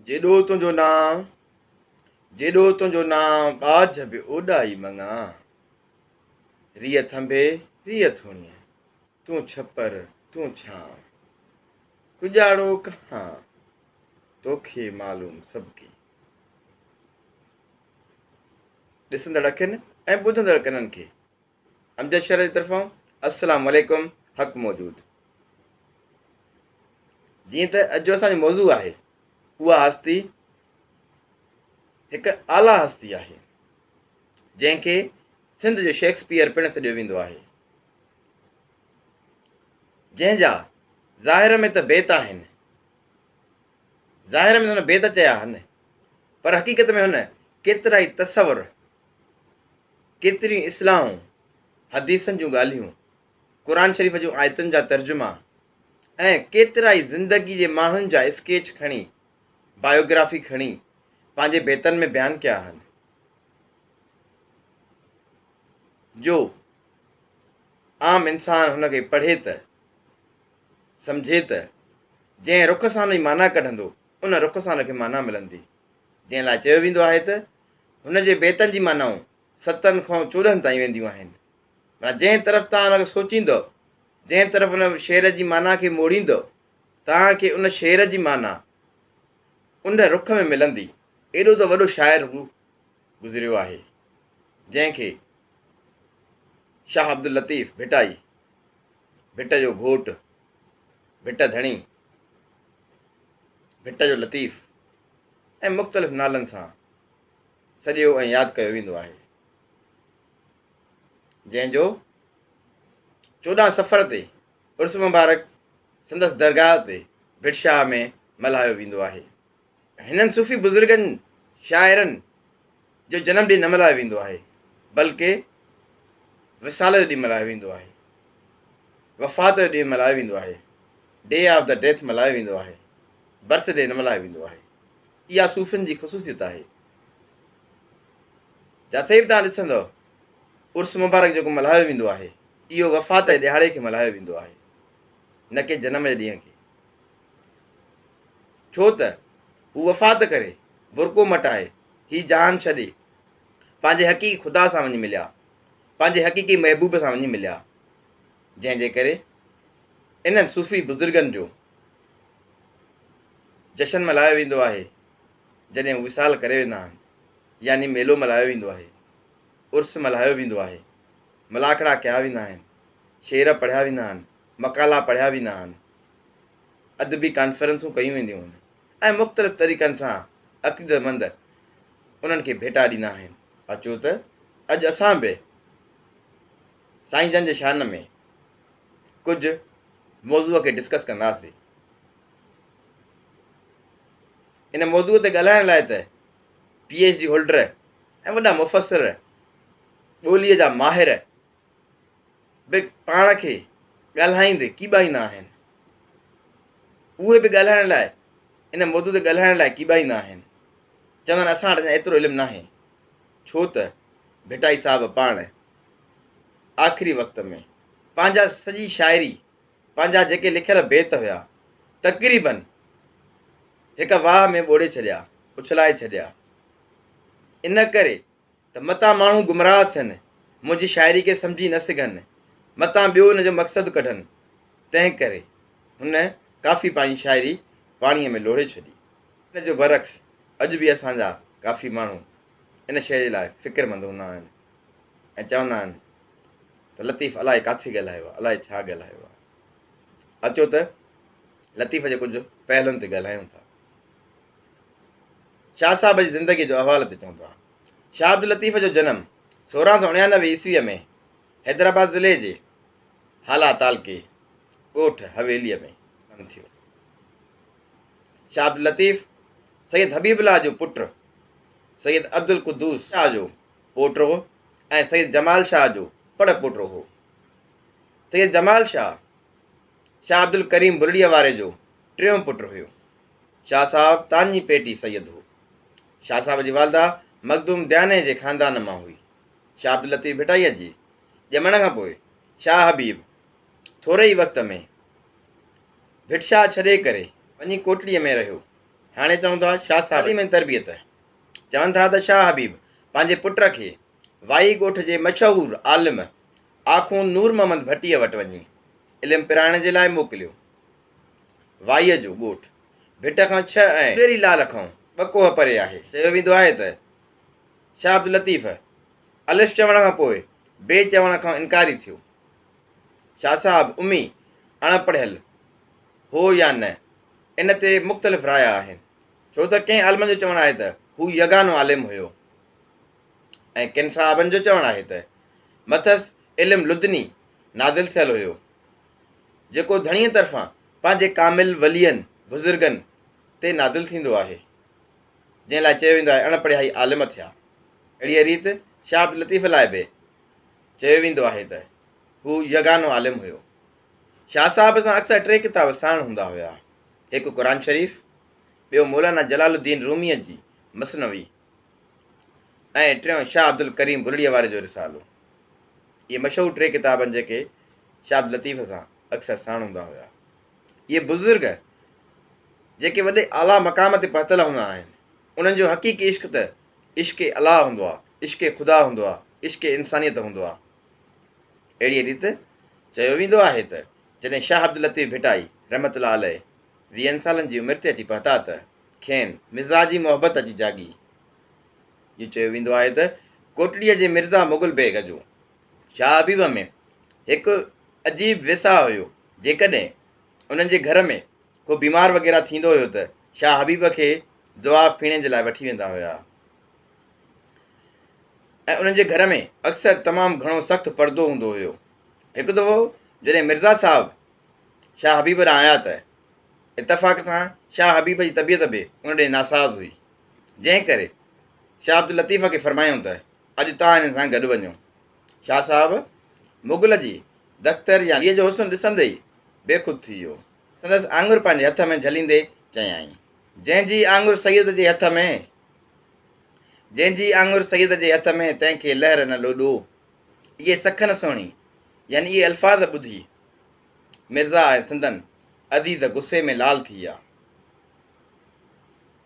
جيڏو تنهنجو نانء، جيڏو تنهنجو نانء ٻاجهه به اوڏائي مڱان. ريء ٿنڀي، ريء ٿوڻيء، تون ڇپر، تون ڇانء. ڪڄاڙو ڪهان، توکي معلوم سڀ ڪي. ڏسندڙ اکين ۽ ٻڌندڙ ڪنن کي. امجد شرر جي طرفان السلام عليڪم حق موجود جيئن ته اڄ جو اسان جو موضوع آهي اها هستي هڪ اعليٰ هستي آهي جنهن کي سنڌ جو شيڪسپيئر پڻ سڏيو ويندو آهي جنهن جا ظاهر ۾ ته بيت آهن ظاهر ۾ هن بيت چيا آهن پر حقيقت ۾ هن ڪيترا ئي تصور ڪيتريون اصلاحون، حديثن جون ڳالهيون، قرآن شريف جون آيتن جا ترجما ۽ ڪيترائي زندگي جي ماڻهن جا اسڪيچ کڻي، بايوگرافي کڻي، پنهنجي بيتن ۾ بيان ڪيا آهن، جو عام انسان هن کي پڙهي ته سمجهي ته جنهن رخ سان هن جي معنيٰ ڪڍندو، ان رخ سان هن کي معنيٰ ملندي. جنهن لاء چيو ويندو آهي ته هن جي بيتن جي معنائون ستن کان چوڏهن تائين وينديون آهن. معنيٰ جنهن طرف توهان ان کي سوچيندؤ، جنهن طرف ان شعر جي معنيٰ کي موڙيندؤ، توهان کي ان شعر جي معنيٰ ان رخ ۾ ملندي. ايڏو ته وڏو شاعر هو گذريو آهي، جنهن کي شاهه عبداللطيف ڀٽائي، ڀٽ جو گهوٽ، ڀٽ ڌڻي، ڀٽ جو لطيف ۽ مختلف نالن سان سڏيو ۽ ياد ڪيو ويندو آهي جنهن جو چوڏهن سفر تي عرس مبارڪ سندس درگاهه تي ڀٽ شاهه ۾ ملهايو ويندو آهي هنن صوفي بزرگن، شاعرن، جو جنم ڏينهن نه ملهايو ويندو آهي، بلڪه وصال جو ڏينهن ملهايو ويندو آهي، وفات جو ڏينهن ملهايو ويندو آهي، Day of the Death ملهايو ويندو آهي، برٿ ڊي نه ملهايو ويندو آهي. اها صوفين جي خصوصيت آهي. جاٿي به توهان ڏسندؤ عرس مبارڪ جيڪو ملهايو ويندو آهي، اهو وفات جي ڏهاڙي کي ملهايو ويندو آهي، نه ڪي جنم جي ڏينهن کي. ڇو ته هو وفات ڪري، برقعو مٽائي، هي جهان ڇڏي، پنهنجي حقيقي خدا سان وڃي مليا، پنهنجي حقيقي محبوب سان وڃي مليا، جنهن جي ڪري انهن صوفي بزرگن جو جشن ملهايو ويندو آهي، جڏهن هو وصال ڪري ويندا آهن، يعني ميلو ملهايو ويندو آهي، عرس ملهايو ويندو آهي، ملاکڙا ڪيا ويندا آهن، شعر پڙهيا ويندا آهن. مقالا پڙهيا ويندا آهن، ادبي ڪانفرنسون ڪيون وينديون آهن ۽ مختلف طريقن سان عقيدتمند انهن کي ڀيٽا ڏيندا آهن. اچو ته اڄ اسان به سائين جن جي شان ۾ ڪجهه موضوع کي ڊسڪس ڪنداسين. ان موضوع تي ڳالهائڻ لاء ته پي ايڇ ڊي هولڊر ۽ وڏا مفسر ٻوليء جا ماهر به پاڻ کي ڳالهائيندي ڪيٻائيندا آهن. اهي به ڳالهائڻ لاء ان موضوع تي ڳالهائڻ لاء ڪيٻائيندا آهن. چوندا آهن اسان وٽ ايترو علم ناهي. ڇو ته ڀٽائي صاحب پاڻ آخري وقت ۾ پنهنجا سڄي شاعري پنهنجا جيڪي لکيل بيت هيا تقريبن هڪ واهه ۾ ٻوڙي ڇڏيا اڇلائي ڇڏيا ان ڪري ته متان ماڻهو گمراهه ٿين، منهنجي شاعري کي سمجهي نه سگهن، متان ٻيو ان جو مقصد ڪڍن، تنهن ڪري هن ڪافي پنهنجي شاعري پاڻيء ۾ لوڙهي ڇڏي. ان جو برعڪس اڄ به اسان جا ڪافي ماڻهو ان شيء جي لاء فڪرمند هوندا آهن ۽ چوندا آهن ته لطيف الائي ڪاٿي ڳالهايو آهي، الائي ڇا ڳالهايو آهي. اچو ته لطيف جي ڪجهه پهلون تي ڳالهايون ٿا. شاهه صاحب جي زندگيء جو احوال به چون ٿا. شاهه عبداللطيف جو جنم سورهن سؤ اڻيانوي عيسويء ۾ حيدرآباد ضلعي جي هالا تعلقي ڳوٺ حويليء ۾ ٿيو. شاهه عبداللطيف سيد حبيب الله جو پٽ، سيد عبدالقدوس شاهه جو پوٽو ۽ سيد جمال شاهه جو پڙ پوٽو هو. سيد جمال شاهه، شاهه عبدالڪريم بلڙيء واري جو ٽيون پٽ هيو. شاهه صاحب تاڃي پيٽي سيد هو. شاهه صاحب جي والده مخدوم دياني جي خاندان مان هئي. شاهه عبداللطيف ڀٽائيء جي ڄمڻ کان پوء شاهه حبيب ٿوري ئي وقت ۾ ڀٽشاهه ڇڏي ڪري وڃي ڪوٽڙيء ۾ رهيو. هاڻي چئون ٿا شاهه صاحب تعليم ۽ تربيت چون ٿا ته شاهه حبيب پنهنجي پٽ کي وائي ڳوٺ جي مشهور عالم آخوند نور محمد ڀٽيء وٽ وڃي علم پرائڻ جي لاء موڪليو. وائيء جو ڳوٺ ڀٽ کان ڇهه ۽ ٻيري لال کان ٻه ڪوهه پري آهي. چيو ويندو آهي ته شاهه عبداللطيف الف چوڻ کان پوء بي چوڻ کان انڪاري ٿيو. شاهه صاحب امي اڻ پڙهيل هو يا نه ان تي مختلف رايا آهن ڇو ته ڪنهن عالمن جو چوڻ آهي ته هو يگانو عالم هيو ۽ ڪن صاحبن جو چوڻ آهي ته مٿس علم لدني نازل ٿيل هيو. جيڪو ڌڻيء طرفان پنهنجي ڪامل ولين، بزرگن، تي نادل ٿيندو آهي، جنهن لاء چيو ويندو آهي اڻ پڙهيائي عالم ٿيا. اهڙيء ريت شاهه عبداللطيف لاء به چيو ويندو آهي ته هو يگانو عالم هيو. شاهه صاحب سان اڪثر ٽي ڪتاب ساڻ هوندا هيا، هڪ قرآن شريف، ٻيو مولانا جلال الدين روميء جي مثنوي، ۽ ٽيون شاهه عبدالڪريم ڀلڙيء واري جو رسالو. اهي مشهور ٽي ڪتاب آهن جيڪي شاهه عبداللطيف سان اڪثر ساڻ هوندا هيا. اهي بزرگ جيڪي وڏي اعليٰ مقام تي پهتل هوندا آهن انهن جو حقيقي عشق ته عشق الاهه هوندو آهي، عشق خدا هوندو آهي، عشق انسانيت هوندو آهي. اهڙيء ريت چيو ويندو آهي ته جڏهن شاهه عبداللطيف ڀٽائي رحمة الله عليه ويهن سالن جي عمر تي اچي پهتا ته. کين مزاجي محبت اچي جاڳي. جيئن چيو ويندو آهي ته ڪوٽڙيء جي مرزا مغل بيگ جو شاهه حبيب ۾ هڪ عجيب ويساهه هيو. جيڪڏهن انهن جي گهر ۾ ڪو بيمار وغيره ٿيندو هيو ته شاهه حبيب کي دعا ڦيڻي جي لاء وٺي ويندا هيا ۽ انهن جي گهر ۾ اڪثر تمام گهڻو سخت پردو هوندو هيو. هڪ دفعو جڏهن مرزا صاحب شاهه حبيب ڏانهن آيا ته اتفاق سان شاهه حبيب جي طبيعت به ان ڏي ناساز هئي، جنهن ڪري شاهه عبداللطيف کي فرمايائون ته اڄ توهان هنن سان گڏ وڃو. شاهه صاحب مغل جي دختر يا ڌيء جو حسن ڏسندي ئي بيخود ٿي ويو. سندس آڱر پنهنجي هٿ ۾ جهليندي چيائين، جنهن جي آڱر سيد جي هٿ ۾، جنهن جي آڱر سيد جي هٿ ۾، تنهن کي لهر نه لوڏو. اهي سکن سهڻي يعني اهي الفاظ ٻڌي. مرزا آهي سندن عزيز غصي ۾ لال ٿي ويا.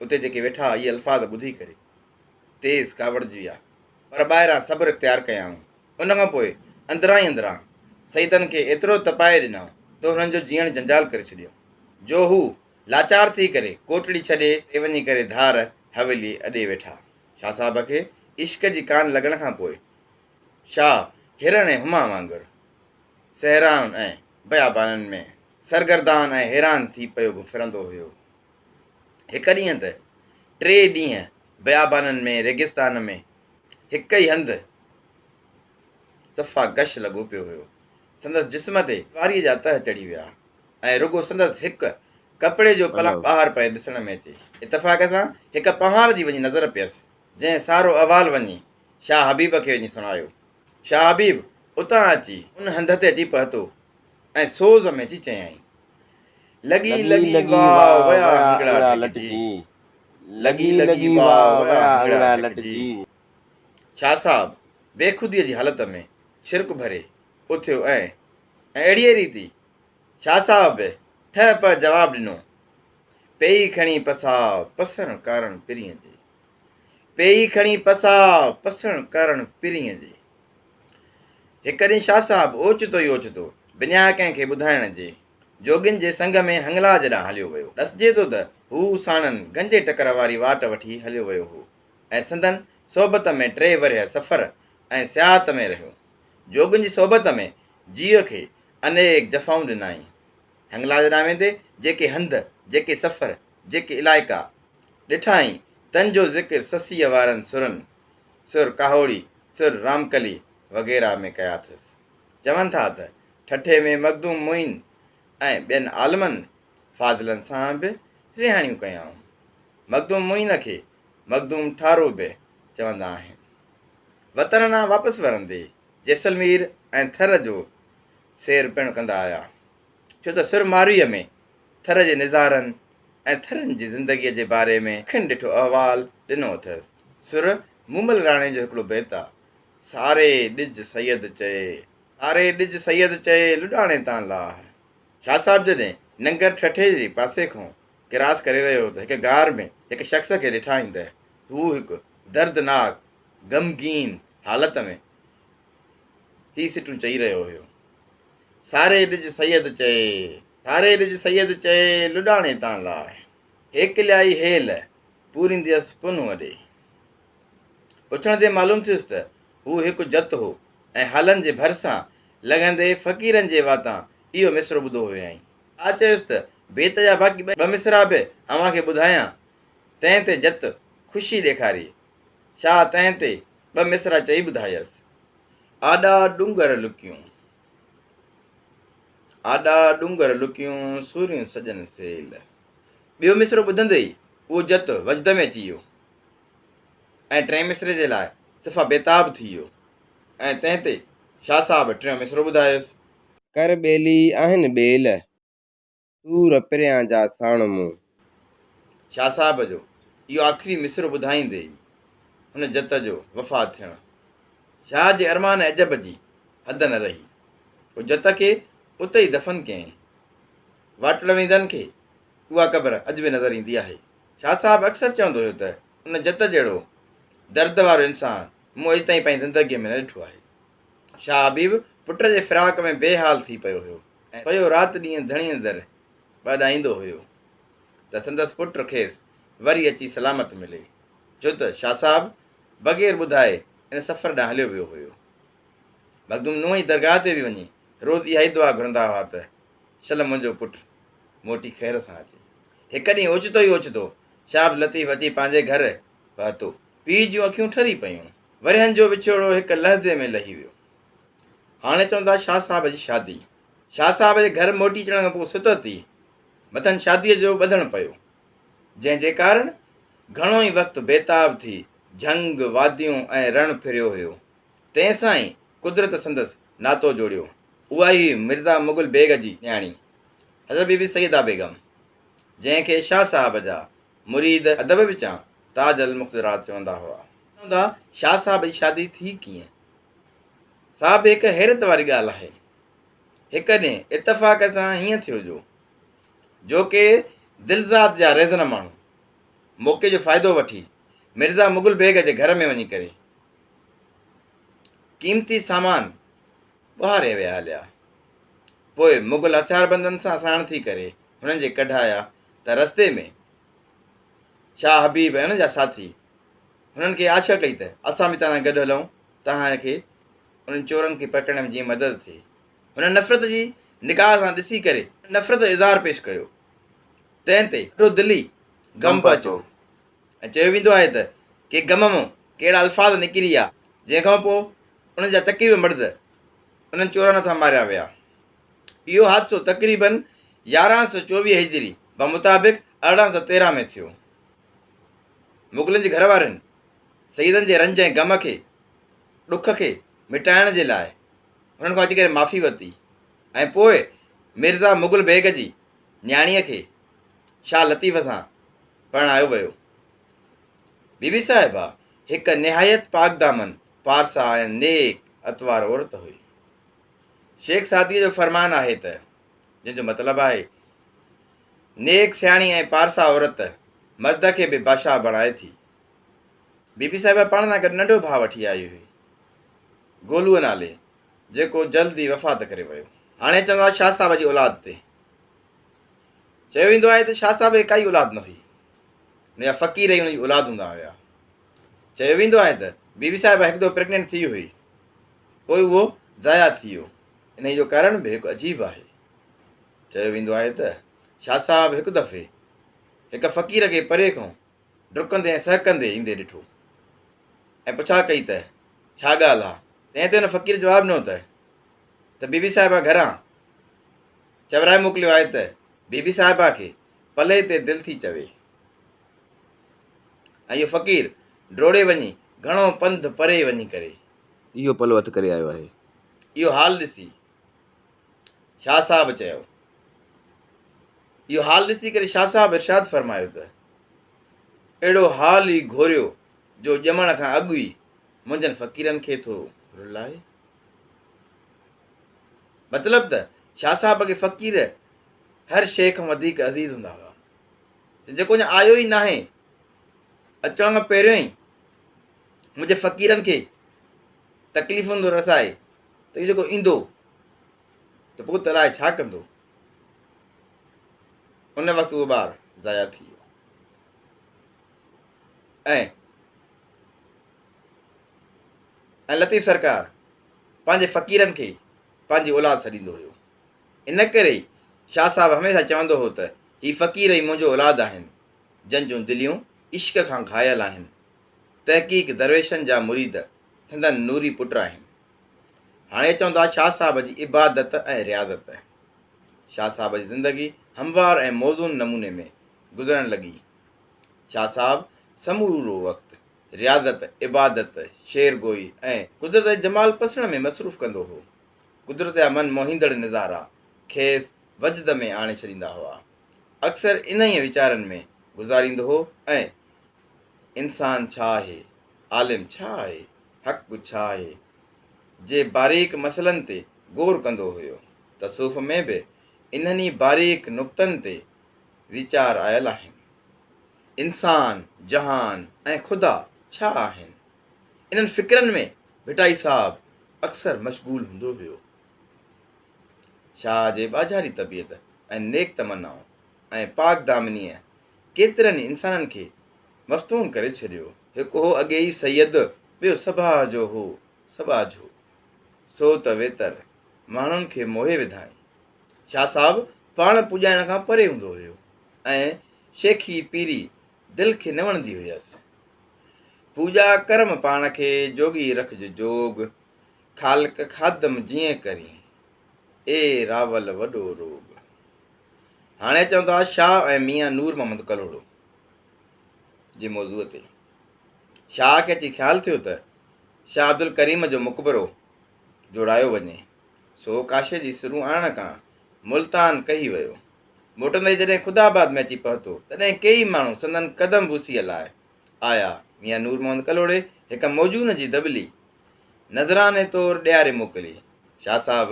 اتي جيڪي ويٺا هئا اهي الفاظ ٻڌي ڪري تيز ڪاوڙجي ويا پر ٻاهران صبر اختيار ڪيائون. ان کان پوء اندران ئي اندران سيدن کي ايترو تپائي ڏنائون ته هنن جو جيئڻ جنجال ڪري ڇڏيو جو هو لاچار ٿي ڪري ڪوٽڙي ڇڏي اتي وڃي ڪري ڌار حويلي اڏي ويٺا. شاهه صاحب کي عشق جي ڪان لڳڻ کان پوء شاهه هرڻ ۽ هما وانگر. صحرائن ۽ بيابانن ۾ سرگردان ۽ حيران ٿي پيو ڦرندو هيو. هڪ ڏينهن ته ٽي ڏينهن بيابانن ۾ ريگستان ۾ هڪ ئي هنڌ صفا گش لڳو پيو هيو. سندس جسم تي خواريء جا تهه چڙهي ويا ۽ رڳو سندس هڪ ڪپڙي جو پلاء ٻاهر پئي ڏسڻ ۾ اچي. اتفاق سان هڪ پنهار جي وڃي نظر پيس، جنهن سارو احوال وڃي شاهه حبيب کي وڃي سڻايو. شاهه حبيب اتان اچي ان هنڌ تي اچي پهتو ۽ سوز ۾ اچي چيائين. لڳي لڳي واء ويا هنگڙا لٽجي. لڳي لڳي واء ويا هنگڙا لٽجي. شاهه صاحب بيخوديء جي حالت ۾ ڇرڪ ڀري اٿيو ۽ اهڙيء ريت ئي شاهه صاحب به ٺهه پهه جواب ڏنو. پيئي کڻي پساء پسڻ ڪارڻ پرينء جي. پيئي کڻي پساء پسڻ ڪرڻ پرينء جي. هڪ ڏينهن شاهه صاحب اوچتو ئي اوچتو، بنيا ڪنهن کي ٻڌائڻ جي، جوڳين جي سنگ ۾ هنگلاج ڏانهن هليو ويو. ڏسجي ٿو ته هو ساڻن گنجي ٽڪر واري واٽ وٺي هليو ويو هو ۽ سندن صحبت ۾ ٽي ورهيه سفر ۽ سياحت ۾ رهيو. جوڳين جي صحبت ۾ جيء کي انيڪ جفائون ڏنائين. هنگلاج ڏانهن ويندي جيڪي هنڌ، جيڪي سفر، جيڪي علائقا ڏٺائين تن جو ذڪر سسيء وارن سرن، سر ڪاهوڙي، سر رامڪلي وغيره، ۾ ڪيا اٿس. چون ٿا ته ٺٽي ۾ مخدوم معين ۽ ٻين عالمن فاضلن سان به رهاڻيون ڪيائون. مخدوم معين کي مخدوم ٺارو به چوندا آهن. وطن ڏانهن واپس ورندي جيسلمير ۽ ٿر جو سير پڻ ڪندا آيا. ڇو ته سر مارئيء ۾ ٿر جي نظارن ۽ ٿرين جي زندگيء جي باري ۾ اکين ڏٺو احوال ڏنو اٿس. سر مومل راڻي جو هڪڙو بيت آ. ساري ڏج سيد چئي، ساري ڏج سيد چئي لڏاڻي تان لاهه. شاهه صاحب جڏهن ننگر ٺٽي جي پاسي کان ڪراس ڪري رهيو هو ته هڪ غار ۾ هڪ شخص کي ڏٺائين ته هو هڪ دردناڪ غمگين حالت ۾ هي سٽون چئي رهيو هيو. ساري ڏج سيد چئي، ساري ڏج سيد چئي، لڏاڻي تان لاء، هيڪ ليائي هيل، پوريندي هئس پنهون اڏي. پڇڻ تي معلوم ٿيس ته هو هڪ جت هو ۽ هالن جي ڀرسان لنگهندي فقيرن جي واتان اهو مصرعو ٻڌو هيائين. آء چيس ته بيت جا باقي ٻه مصرعا به اوهان کي ٻڌايان. تنهن تي جت خوشي ڏيکاري. شاهه تنهن تي ٻه مصرع چئي ٻڌايس. آڏا ڏونگر لڪيون، آڏا ڏونگر لڪيون، سوريون سڄن سيل. ٻيو مصرعو ٻڌندي ئي اهو جت وجد ۾ اچي ويو ۽ ٽئين مصرعي جي لاء صفا بيتاب ٿي ويو ۽ تنهن تي شاهه صاحب ٽيون مصرعو ٻڌايس. ڪر ٻيلي آهن ٻيل. تور پريان جا ساڻ مون. شاهه صاحب جو اهو آخري مصرعو ٻڌائيندي ئي هن جت جو وفات ٿيڻ شاهه جي ارمان ۽ عجب جي حد نه رهي. هو جت کي اتي ئي دفن ڪيائين. واٽڙويندن کي اها قبر اڄ به نظر ايندي آهي. شاهه صاحب اڪثر چوندو هيو ته ان جت جهڙو درد وارو انسان مون اڄ تائين پنهنجي زندگيء ۾ نه ڏٺو آهي. شاهه حبيب پٽ جي فراق ۾ بي حال ٿي پيو هيو ۽ پيو رات ڏينهن ڌڻيء در به اڏائيندو هيو ته سندس پٽ کيس وري اچي سلامت ملي ڇو ته شاهه صاحب بغير ٻڌائي ان سفر ڏانهن هليو ويو هيو. مخدوم نوح جي درگاهه تي به وڃي روز اها ئي دعا گهرندا هئا ته شل منهنجو پٽ موٽي خير سان اچي. هڪ ڏينهن اوچتو ئي اوچتو شاهه عبداللطيف اچي پنهنجي گهر پهتو. پيء جون اکيون ٺري پيون. ورهين جو وڇوڙو هڪ لحظي ۾ لهي ويو. هاڻي چون ٿا شاهه صاحب جي شادي. شاهه صاحب جي گهر موٽي اچڻ کان پوء ستت ئي مٿن شاديء جو ٻڌڻ پيو. جنهن جي ڪارڻ گهڻو ئي وقت بيتاب ٿي جهنگ، واديون ۽ رڻ ڦريو هيو. تنهن سان ئي قدرت سندس ناتو جوڙيو. اها ئي هئي مرزا مغل بيگ جي نياڻي حضرت بي بي سيده بيگم. جنهن کي شاهه صاحب جا مريد ادب وچان تاج المقدرات چوندا هئا. چوندا شاهه صاحب جي شادي ٿي ڪيئن؟ سا به هڪ حيرت واري ڳالهه آهي. هڪ ڏينهن اتفاق سان هيئن ٿيو جو جو ڪي دلزاد جا رهزن ماڻهو موقعي جو فائدو وٺي مرزا مغل بيگ جي گهر ۾ وڃي ڪري قيمتي سامان ٻهاري ويا هليا. پوء مغل هٿياربندن سان ساڻ ٿي ڪري هنن جي ڪڍايا ته رستي ۾ شاهه حبيب ۽ هن جا ساٿي هنن کي آڇ ڪئي ته اسان به توهان گڏ هلون توهان کي انهن چورن کي پڪڙڻ ۾ جيئن مدد ٿئي. هنن نفرت جي نگاهه سان ڏسي ڪري نفرت جو اظهار پيش ڪيو. تنهن تي ڏاڍو دلي غم پهچو ۽ چيو ويندو آهي ته ڪي غم مون ڪهڙا الفاظ نڪري ويا جنهن کان پوء انهن جا تقريبن مرد انهن چورن هٿان ماريا ويا. اهو حادثو تقريبن يارهن سؤ چوويهه هجري بمطابق ارڙهن سؤ تيرهن ۾ ٿيو. مغلن جي گهر وارن سيدن جي رنج ۽ غم کي، ڏک کي، مٽائڻ جي لاء هنن کان اچي ڪري معافي ورتي ۽ پوء مرزا مغل بيگ جي نياڻيء کي شاهه لطيف سان پرڻايو ويو. بيبي صاحبه هڪ نهايت پاڪدامن پارسا ۽ نيڪ اتوار عورت هئي. شيخ سعديء جو فرمان آهي ته، جنهن جو مطلب آهي، نيڪ سياڻي ۽ پارسا عورت مرد کي به بادشاهه بڻائي ٿي. بي بي صاحبه پاڻ سان گڏ ننڍو ڀاء وٺي آئي هئي، گولوء نالي، جيڪو جلد ئي وفات ڪري ويو. هاڻي اچون ٿا شاهه صاحب جي اولاد تي. چيو ويندو آهي ته شاهه صاحب کي ڪائي اولاد نه هئي. ان جا فقير ئي ان جي اولاد هوندا هيا. چيو ويندو آهي ته بي بي صاحبه هڪ دفعو پريگننٽ ٿي هئي، پوء اهو ضايع ٿي ويو، انهيء جو ڪارڻ به هڪ عجيب آهي. چيو ويندو آهي ته شاهه صاحب هڪ دفعي هڪ فقير کي پري کان ڊڪندي ۽ سهڪندي ايندي ڏٺو ۽ پڇا ڪئي ته ڇا ڳالهه آ؟ تنهن تي ان فقير جواب ڏنو ته ته بي بي صاحبه گهران چورائي موڪليو آهي ته بي بي صاحبه کي پلئي تي دل ٿي چوي. ۽ اهو فقير ڊوڙي وڃي گهڻو پنڌ پري وڃي ڪري. اهو پلو هٿ ڪري آيو آهي. اهو حال ڏسي شاهه صاحب چيو. اهو حال ڏسي ڪري شاهه صاحب ارشاد فرمايو ته اهڙو حال ئي گهوريو جو ڄمڻ کان اڳ ئي منهنجن فقيرن کي ٿو رلائي. مطلب ته شاهه صاحب کي فقير هر شيء کان وڌيڪ عزيز هوندا هئا. ته جيڪو اڃا آيو ئي ناهي، اچڻ کان پهريون ئي منهنجي فقيرن کي تڪليفون ٿو رسائي ته اهو جيڪو ايندو ته پوء ته الاء ڇا ڪندو. ان وقت اهو ٻار ضايع ٿي ويو ۽ ۽ لطيف سرڪار پنهنجي فقيرن کي پنهنجي اولاد سڏيندو هيو. ان ڪري ئي شاهه صاحب هميشه چوندو هو ته هي فقير ئي منهنجو اولاد آهن، جن جون دليون عشق کان گهايل آهن. تحقيق درويشن جا مريد سندن نوري پٽ آهن. هاڻي اچون ٿا شاهه صاحب جي عبادت ۽ رياضت تي. شاهه صاحب جي زندگي هموار ۽ موزون نموني ۾ گذرڻ لڳي. شاهه صاحب سمورو وقت رياضت، عبادت، شعر گوئي ۽ قدرت جي جمال پسڻ ۾ مصروف ڪندو هو. قدرت جا من موهيندڙ نظارا کيس وجد ۾ آڻي ڇڏيندا هئا. اڪثر انهيء ويچارن ۾ گذاريندو هو ۽ انسان ڇا آهي؟ عالم ڇا آهي؟ حق ڇا آهي؟ جي باريڪ مسئلن تي غور ڪندو هيو. تصوف ۾ به انهن ئي باريڪ نقطن تي ويچار آيل آهن. انسان، جهان ۽ خدا ڇا آهن؟ انهن فڪرن ۾ ڀٽائي صاحب اڪثر مشغول هوندو هيو. شاهه جي ٻاجهاري طبيعت ۽ نيڪ تمنائون ۽ پاڪ دامنيء ڪيترن ئي انسانن کي مفتون ڪري ڇڏيو. هڪ هو اڳي ئي سيد، ٻيو سڀاء جو هو سٻاجهو، سو ته ويتر ماڻهن کي موهي وڌائين. شاهه صاحب پاڻ پوڄائڻ کان پري هوندو هيو ۽ شيخي پيري دل کي نه وڻندي هيس. پوڄا ڪرم پاڻ کي جوڳي رکج جوڳ، خالق خادم جيئن ڪرين، اي راول وڏو روڳ. هاڻي اچون ٿا شاهه ۽ ميان نور محمد ڪلهوڙو جي موضوع تي. شاهه کي اچي خيال ٿيو ته شاهه عبدالڪريم جو مقبرو جوڙايو وڃي، سو ڪاشي جي سرون آڻڻ کان ملتان ڪهي ويو. موٽندي جڏهن خدا آباد ۾ اچي پهتو، تڏهن ڪيئي ماڻهو سندن قدم بوسيء لاء آيا. ميان نور محمد ڪلهوڙي هڪ موزون جي دٻلي نذراني طور ڏياري موڪلي. شاهه صاحب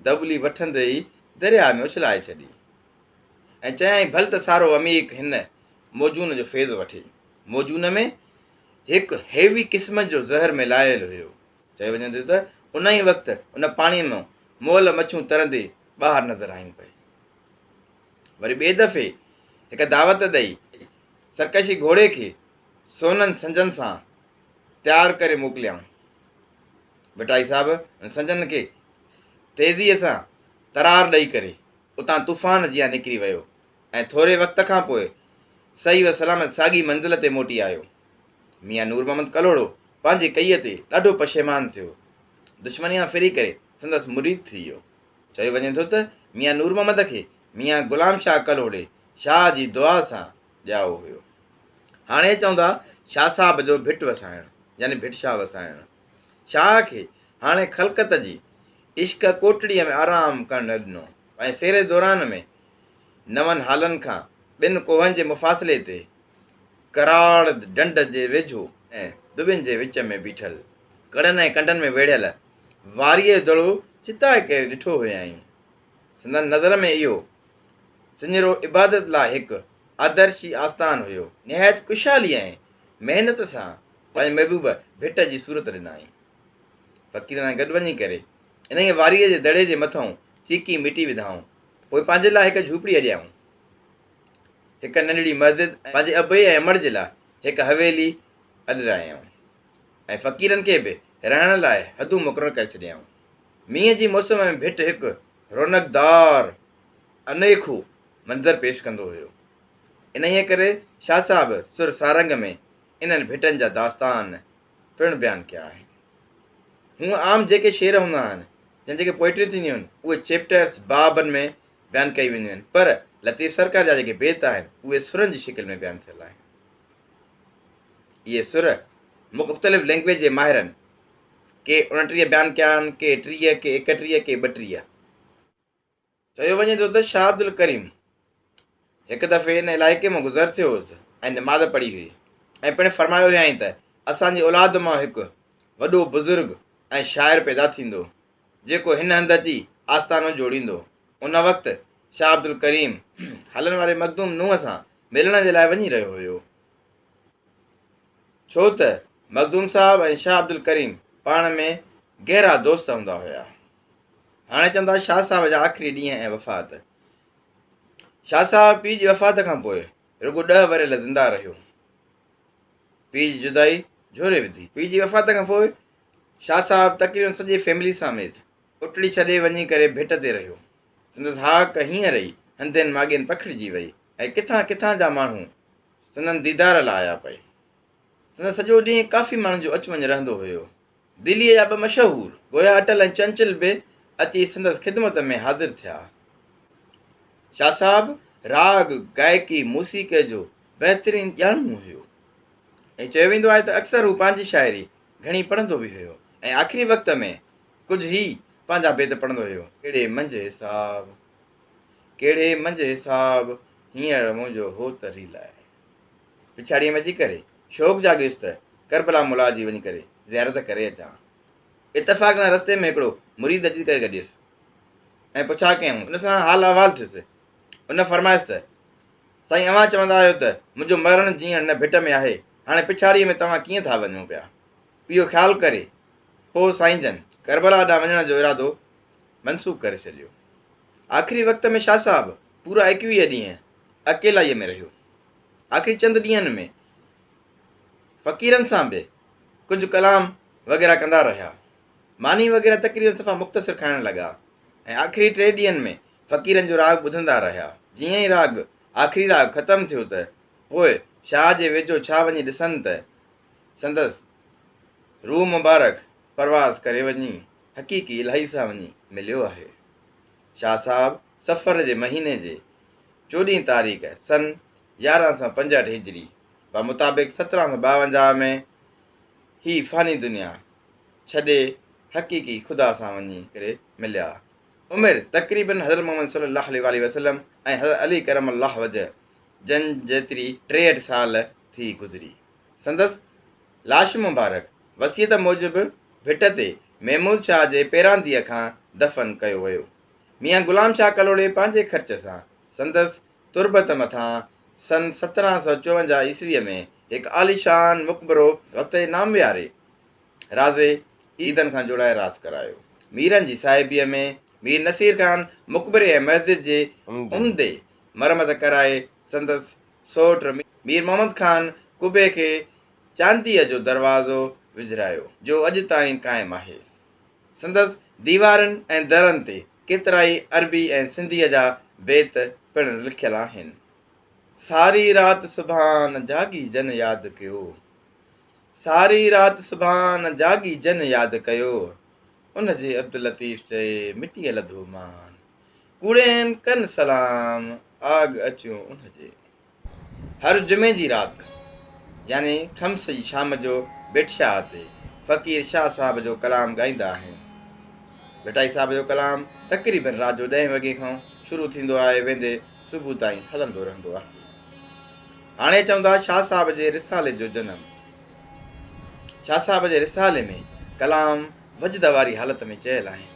دٻلي وٺندي ئي درياء ۾ اڇلائي ڇڏي ۽ چيائين ڀل ته سارو عميق هن موزون جو فيض وٺي. موزون ۾ هڪ هيوي قسم جو زهر ملائل هيو. چيو وڃي ٿو ته ان ئي وقت ان پاڻيء مان مئل مڇون ترندي ٻاهر نظر آيون پئي. وري ٻئي دفعي هڪ دعوت ڏئي سرڪشي گهوڙي کي سونن سنجن سان تيار ڪري موڪليائون. ڀٽائي صاحب ان سنجن کي تيزيء سان ترار ڏئي ڪري اتان طوفان جيان نڪري ويو ۽ ٿوري وقت کان پوء صحيح و سلامت ساڳي منزل تي موٽي آيو. ميان نور محمد ڪلهوڙو پنهنجي ڪئي تي ڏاڍو پشيمان ٿيو. دشمني مان ڦري ڪري سندس مريد ٿي ويو. چيو وڃي ٿو ته ميان نور محمد کي ميان غلام شاهه ڪلهوڙي شاهه جي دعا سان ڄائو هيو. هاڻي چوندا شاهه صاحب جو ڀٽ وسائڻ يعني ڀٽ شاهه وسائڻ. شاهه کي هاڻي خلقت جي عشق ڪوٽڙيء ۾ آرام ڪرڻ نه ڏنو ۽ سيري دوران ۾ نون هالن کان ٻن ڪوهن جي مفاصلي تي ڪراڙ ڍنڍ جي ويجهو ۽ دٻين جي وچ ۾ بيٺل، ڪڙن ۽ ڪنڊن ۾ ويڙهيل واريء دڙو چتائي ڪري ڏٺو هيائين. سندن نظر ۾ اهو سڃرو عبادت لاء هڪ آدرشي آستان هيو. نهايت ڪشالي ۽ محنت سان پنهنجي محبوب ڀٽ جي صورت ڏنائين. فقيرن سان گڏ وڃي ڪري انهيء واريء جي دڙي جي مٿئون چيڪي مٽي وڌائون. پوء پنهنجي لاء هڪ جهوپڙي اڏيائون. هڪ ننڍڙي مسجد ۽ پنهنجي ابي ۽ امڙ جي لاء هڪ حويلي اڏرايائون ۽ فقيرن کي به رهڻ لاء حدون مقرر ڪري ڇڏيائون. مينهن جي موسم ۾ ڀٽ هڪ رونقدار انوکو منظر پيش ڪندو هيو. انهيء ڪري شاهه صاحب سر سارنگ ۾ انهن ڀٽن جا داستان، پڻ بيان ڪيا آهن. هونء عام جيڪي شعر هوندا آهن، يا جيڪي پوئٽريون ٿينديون آهن، اهي چيپٽرز، بابن، ۾ بيان ڪيون وينديون آهن، پر لطيف سرڪار جا جيڪي بيت آهن، اهي سرن جي شڪل ۾ بيان ٿيل آهن. اهي سر مختلف لئنگويج جي ماهرن ڪي اڻٽيهه بيان ڪيا آهن، ڪي ٽيهه، ڪي ايڪٽيهه، ڪي ٻٽيهه. چيو وڃي ٿو ته شاهه عبدالڪريم هڪ دفعي ان علائقي مان گذر ٿيو هوس ۽ نماز پڙهي هئي ۽ پڻ فرمايو هيائين ته اسان جي اولاد مان هڪ وڏو بزرگ ۽ شاعر پيدا ٿيندو جيڪو هن هنڌ اچي آستانو جوڙيندو ان وقت شاهه عبدالڪريم هلن واري مخدوم نوح سان ملڻ جي لاء وڃي رهيو هيو ڇو ته مخدوم صاحب ۽ شاهه عبدالڪريم پاڻ ۾ گهرا دوست هوندا هيا هاڻي چون ٿا شاهه صاحب جا آخري ڏينهن ۽ وفات شاهه صاحب پيء جي وفات کان پوء رڳو ڏهه ورهيل زنده رهيو پيء جي جدائي جھوري وڌي پيء جي وفات کان پوء شاهه صاحب تقريبن سڄي فيملي ساميت اٽڙي ڇڏي وڃي ڪري ڀٽ تي رهيو سندس هاڪ هيئن رهي هنڌين ماڳين پکڙجي وئي ۽ ڪٿان ڪٿان جا ماڻهو سندن ديدار لاء آيا پئي هن سڄو ڏينهن ڪافي ماڻهن جو اچ وڃ رهندو هيو. دليء جا ٻه مشهور گويا اٽل ۽ چنچل به اچي سندس خدمت ۾ حاضر ٿيا. شاهه صاحب راڳ، گائڪي، موسيقيء جو بهترين ڄاڻندو هيو. ائين چيو ويندو آهي ته اڪثر هو پنهنجي شاعري گهڻي پڙهندو به هيو ۽ آخري وقت ۾ ڪجهه ئي پنهنجا بيت پڙهندو هيو. ڪهڙي منجهه حساب، ڪهڙي منجهه حساب، هينئر منهنجو هوت ريلائي. پڇاڙيء ۾ اچي ڪري شوق جاڳيس ته ڪربلا ملا جي وڃي ڪري زيارت ڪري اچان. اتفاق سان رستي ۾ هڪڙو مريد اچي ڪري گڏيس ۽ پڇا ڪيائون. ان سان حال احوال ٿيس. ان فرمايس ته، سائين اوهان چوندا آهيو ته منهنجو مرڻ جيئڻ نه ڀٽ ۾ آهي، هاڻي پڇاڙيء ۾ توهان ڪيئن ٿا وڃو پيا؟ اهو خيال ڪري پوء سائين جن ڪربلا ڏانهن وڃڻ جو ارادو منسوخ ڪري ڇڏيو. آخري وقت ۾ شاهه صاحب! پورا ايڪويهه ڏينهن اڪيلائيء ۾ رهيو. آخري چند ڏينهن ۾ فقيرن سان به ڪجهه ڪلام وغيره ڪندا رهيا. ماني وغيره تقريبن صفا مختصر کائڻ لڳا ۽ آخري ٽي ڏينهن ۾ فقيرن جو راڳ ٻڌندا رهيا. جيئن ئي راڳ آخري راڳ ختم ٿيو ته پوء شاهه جي ويجهو ڇا وڃي ڏسن ته سندس روح مبارڪ پرواز ڪري وڃي حقيقي الاهي سان وڃي مليو آهي. شاهه صاحب صفر جي مهيني جي چوڏهين تاريخ سن يارهن سئو پنجهٺ هجري به مطابق سترهن سئو ٻاونجاهه ۾ هي فاني دنيا ڇڏي حقيقي خدا سان وڃي ڪري مليا. عمر تقريبن حضرت محمد صلي الله عليه واٰله وسلم ۽ حضرت علي ڪرم الله وجه جن جيتري ٽيهٺ سال ٿي گذري. سندس لاش مبارڪ وصيت موجب ڀٽ تي محمود شاهه جي پيرانديء کان دفن ڪيو ويو. ميان غلام شاهه ڪلهوڙي پنهنجي خرچ سان سندس تربت مٿان سن سترهن سؤ چوونجاهه عيسويء ۾ هڪ عاليشان مقبرو وتي نامياري رازي عيدن کان جوڙائي راس ڪرايو. ميرن جي صاحبيء ۾ مير نصير خان مقبري ۽ مسجد جي عمدي مرمت ڪرائي سندس سؤٽ مير محمد خان قبي کي چانديء جو دروازو وجهرايو، جو اڄ تائين قائم آهي. سندس ديوارن ۽ درن تي ڪيترائي عربي ۽ سنڌيء جا بيت پڻ لکيل آهن، ساري رات سبحان جاڳي جن ياد ڪيو، ساري رات سبحان جاڳي جن ياد ڪيو، ان جي عبداللطيف چئي مٽيء لڌو مان، ڪوڙين ڪن سلام آڳ اچيو ان جي. هر جمعي جي رات يعني خمس جي شام جو ڀٽ شاهه تي فقير شاهه صاحب جو ڪلام ڳائيندا آهن. ڀٽائي صاحب جو ڪلام تقريبن رات جو ڏهين وڳي کان شروع ٿيندو آهي ويندي صبح تائين هلندو رهندو آهي. هاڻي اچون ٿا شاهه صاحب جي رسالي جو جنم. شاهه صاحب جي رسالي ۾ ڪلام وجد واري حالت ۾ چيل آهن.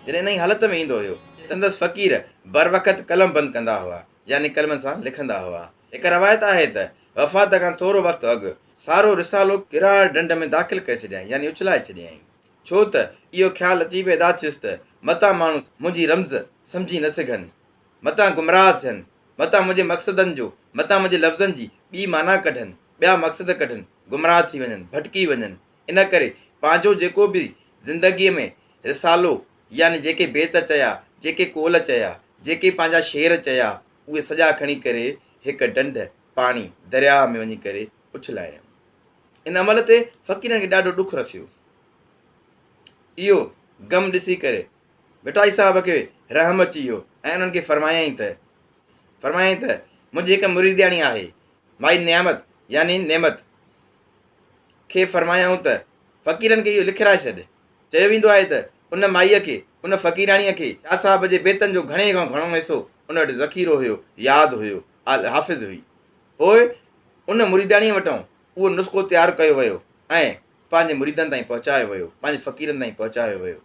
جڏهن انهي حالت ۾ ايندو هيو سندس فقير بروقت قلم بند ڪندا هئا. يعني قلمن سان لکندا هئا. هڪ روايت آهي ته وفات کان ٿورو وقت اڳ سارو رسالو ڪراڙ ڍنڍ ۾ داخل ڪري ڇڏيائين يعني اڇلائي ڇڏيائين. ڇو ته اهو خيال اچي پيدا ٿيس ته متان ماڻهو منهنجي رمز سمجهي نه سگهن، متان گمراهه ٿين، متان منهنجي مقصدن جو، متان منهنجي لفظن جي ٻي معنيٰ ڪڍن، ٻيا مقصد ڪڍن، گمراهه ٿي وڃن، ڀٽڪي وڃن. ان ڪري پنهنجو جيڪو به زندگيء ۾ رسالو، يعني جيڪي بيت چيا، جيڪي قول چيا، جيڪي پنهنجا شعر چيا، اهي سڄا کڻي ڪري هڪ ڍنڍ، پاڻي، درياهه ۾ وڃي ڪري اڇلايائون. ان عمل تي فقيرن کي ڏاڍو ڏک رسيو. اهو غم ڏسي ڪري ڀٽائي صاحب کي رحم اچي ويو ۽ انهن کي فرمايائين ته فرمايائين ته منهنجي هڪ مريدياڻي آهي مائي نعمت يعني نعمت کي فرمايائون ته فقيرن کي اهو لکرائي ڇڏ چيو ويندو آهي ته ان مائيء کي، ان فقيراڻيء کي شاهه صاحب جي بيتن جو گهڻي کان گهڻو حصو ان وٽ ذخيرو هيو، ياد هيو، حافظ هئي. پوء ان مريداڻيء وٽان اهو نسخو تيار ڪيو ويو ۽ پنهنجي مريدن تائين پهچايو ويو، پنهنجي فقيرن تائين پهچايو ويو،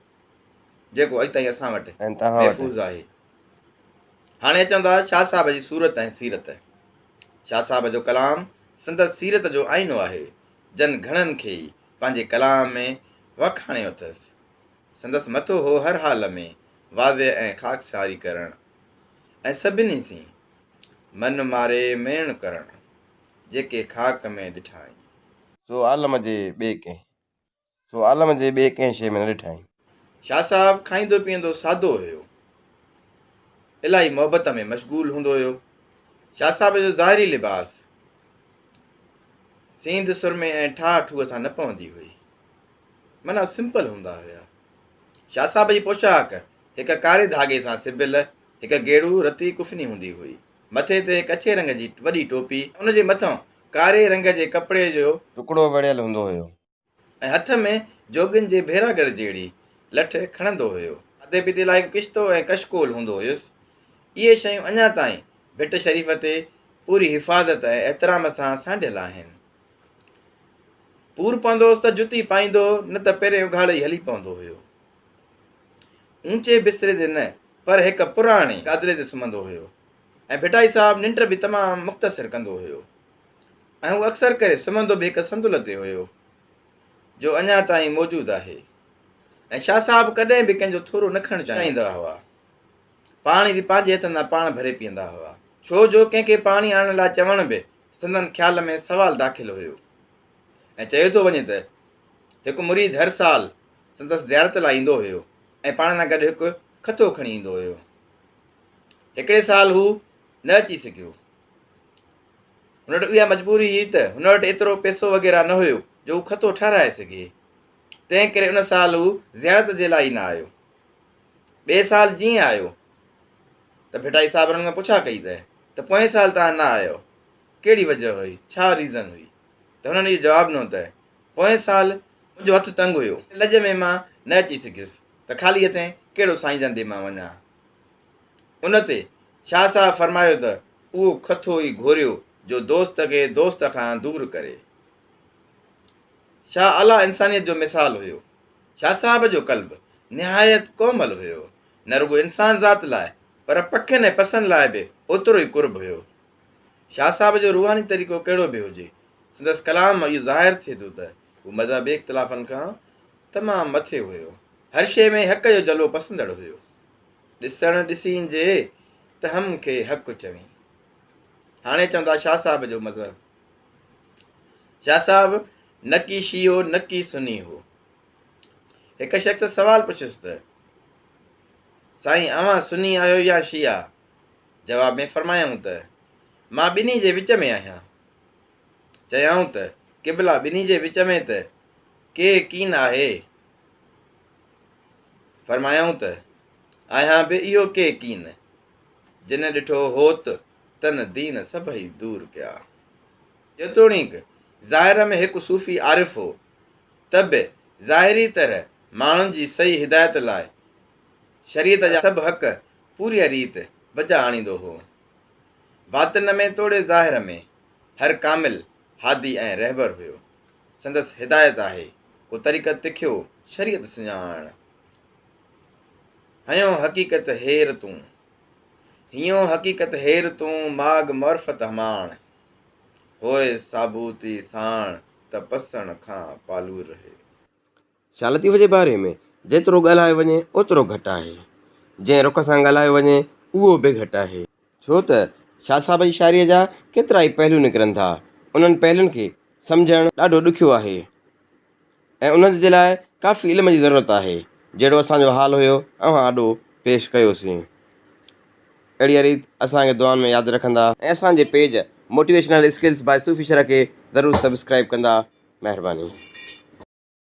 جيڪو اڄ تائين اسان وٽ محفوظ آهي. هاڻي اچون ٿا شاهه صاحب جي صورت ۽ سيرت. شاهه صاحب جو ڪلام سندس سيرت جو آئينو آهي. جن گهڻن کي ئي پنهنجي ڪلام ۾ وکاڻيو اٿس. سندس مٿو هو هر حال ۾ واضع ۽ خاڪساري ڪرڻ ۽ سڀني سين من ماري ميڻ ڪرڻ، جيڪي خاڪ ۾ ڏٺائين. سو عالم جي ٻئي ڪنهن سو عالم جي ٻي ڪنهن شيء ۾ نه ڏٺائين. شاهه صاحب کائيندو پيئندو سادو هيو. الاهي محبت ۾ مشغول هوندو هيو. شاهه صاحب جو ظاهري لباس سينڌ سرمي ۽ ٺاهه ٺوهه سان نه پوندي هئي. معنيٰ سمپل هوندا هيا. شاهه صاحب جي پوشاڪ هڪ ڪاري ڌاڳي سان سبيل هڪ گيڙو رتي ڪفني هوندي هئي. مٿي تي هڪ اڇي رنگ جي وڏي ٽوپي ۽ ان جي مٿان ڪاري رنگ جي ڪپڙي جو ٽڪڙو ويڙهيل هوندو هيو. ۽ هٿ ۾ جوڳين جي ڀيراڳڙ جهڙي لٺ کڻندو هيو. کاڌي پيتي لاء هڪ ڪشتو ۽ ڪشڪول هوندو هيس. اهي شيون اڃا تائين ڀٽ شريف تي پوري حفاظت ۽ احترام سان سانڍيل آهن. پور پوندو هوس ته جتي پائيندو نه ته پيرين اگهاڙي ئي هلي پوندو هيو. اوچي بستري تي نه پر هڪ پراڻي گادري تي سمهندو هيو ۽ ڀٽائي صاحب ننڊ به تمام مختصر ڪندو هيو. ۽ هو اڪثر ڪري سمهندو به هڪ صندل تي هيو، جو اڃا تائين موجود آهي ۽ شاهه صاحب ڪڏهن به ڪنهن جو ٿورو نه کڻڻ چاهيندا هئا. پاڻي به پنهنجي هٿن تان پاڻ ڀري پيئندا هئا. ڇو جو ڪنهن کي پاڻي آڻڻ لاء چوڻ به سندن خيال ۾ سوال داخل هيو ۽ چيو ٿو وڃي ته هڪ مريد هر سال سندس زيارت لاء ايندو هيو ۽ پاڻ سان گڏ هڪ کٿو کڻي ايندو هيو. هڪڙي سال هو نه اچي سگهيو. هن وٽ اها مجبوري هئي ته هن وٽ ايترو پيسو وغيره نه هيو جو هو کٿو ٺهرائي سگهي. تنهن ڪري ان سال هو زيارت جي لاء ئي نه آيو. ٻئي سال جيئن آيو ته ڀٽائي صاحب هنن کان پڇا ڪئي ته ته پوئين سال توهان نه آيو ڪهڙي وجه هئي ڇا ريزن هئي ته هنن اهو جواب ڏنو ته پوئين سال منهنجو هٿ تنگ هيو لڄ ۾ مان نه اچي سگهيس ته خالي هٿين ڪهڙو سائين جن ڏي مان وڃان. ان تي شاهه صاحب فرمايو ته اهو کٿو ئي گهوريو جو دوست کي دوست کان دور ڪري. شاهه اعليٰ انسانيت جو مثال هيو. شاهه صاحب جو قلب نهايت ڪومل هيو. نه رڳو انسان ذات لاء پر پکين ۽ پسن لاء به اوترو ئي قرب هيو. شاهه صاحب جو روحاني طريقو ڪهڙو به هجي، سندس ڪلام مان اهو ظاهر ٿئي ٿو ته، هو مذهبي اختلافن کان تمام مٿي هيو. هر شيء ۾ حق جو جلوو پسندڙ هيو. ڏسڻ ڏسين جي ته هم کي حق چوين. هاڻي چوندا شاهه صاحب جو مذهب. شاهه صاحب نه ڪي شيعو نه ڪي سني هو. هڪ شخص سوال پڇيس ته سائين اوهان سني آهيو يا شيعا؟ جواب ۾ فرمايائون ته مان ٻنهي جي وچ ۾ آهيان. چيائون ته قبلا ٻنهي جي وچ ۾ ته ڪي ڪين آهي. فرمايائون ته آهيان به اهو ڪي ڪين، جنھن ڏٺو هوت تن دين سڀئي دور ڪيا. جيتوڻيڪ ظاهر ۾ هڪ صوفي عارف هو، ته به ظاهري طرح ماڻهن جي صحيح هدايت لاء شريعت جا سڀ حق پوريء ريت بجا آڻيندو هو. باطن ۾ توڙي ظاهر ۾. هر ڪامل هادي ۽ رهبر هيو. سندس هدايت آهي، ڪو طريقت تکيو، شريعت سڃاڻ. هنيون حقيقت هير تون، هنيون حقيقت هير تون، ماڳ معرفت هماڻ. هوء ثابوتي ساڻ، ته پسڻ کان پالور رهي. شاهه لطيف جي باري ۾ جيترو ڳالهايو وڃي اوترو گهٽ آهي. جنهن رخ سان ڳالهايو وڃي اهو به گهٽ آهي. ڇو ته شاهه صاحب جي شاعريء جا ڪيترا ئي پهلو نڪرن ٿا. انهن پهلون کي سمجهڻ ڏاڍو ڏکيو آهي ۽ انهن جي لاء ڪافي علم جي ضرورت آهي. جهڙو اسان جو حال هيو اوهان آڏو پيش ڪيوسين. اهڙيء ريت اسان کي دعائن ۾ ياد رکندا. ۽ اسان جي پيج موٽيويشنل اسڪلز باء صوفي شرح کي ضرور سبسڪرائيب ڪندا. مهرباني.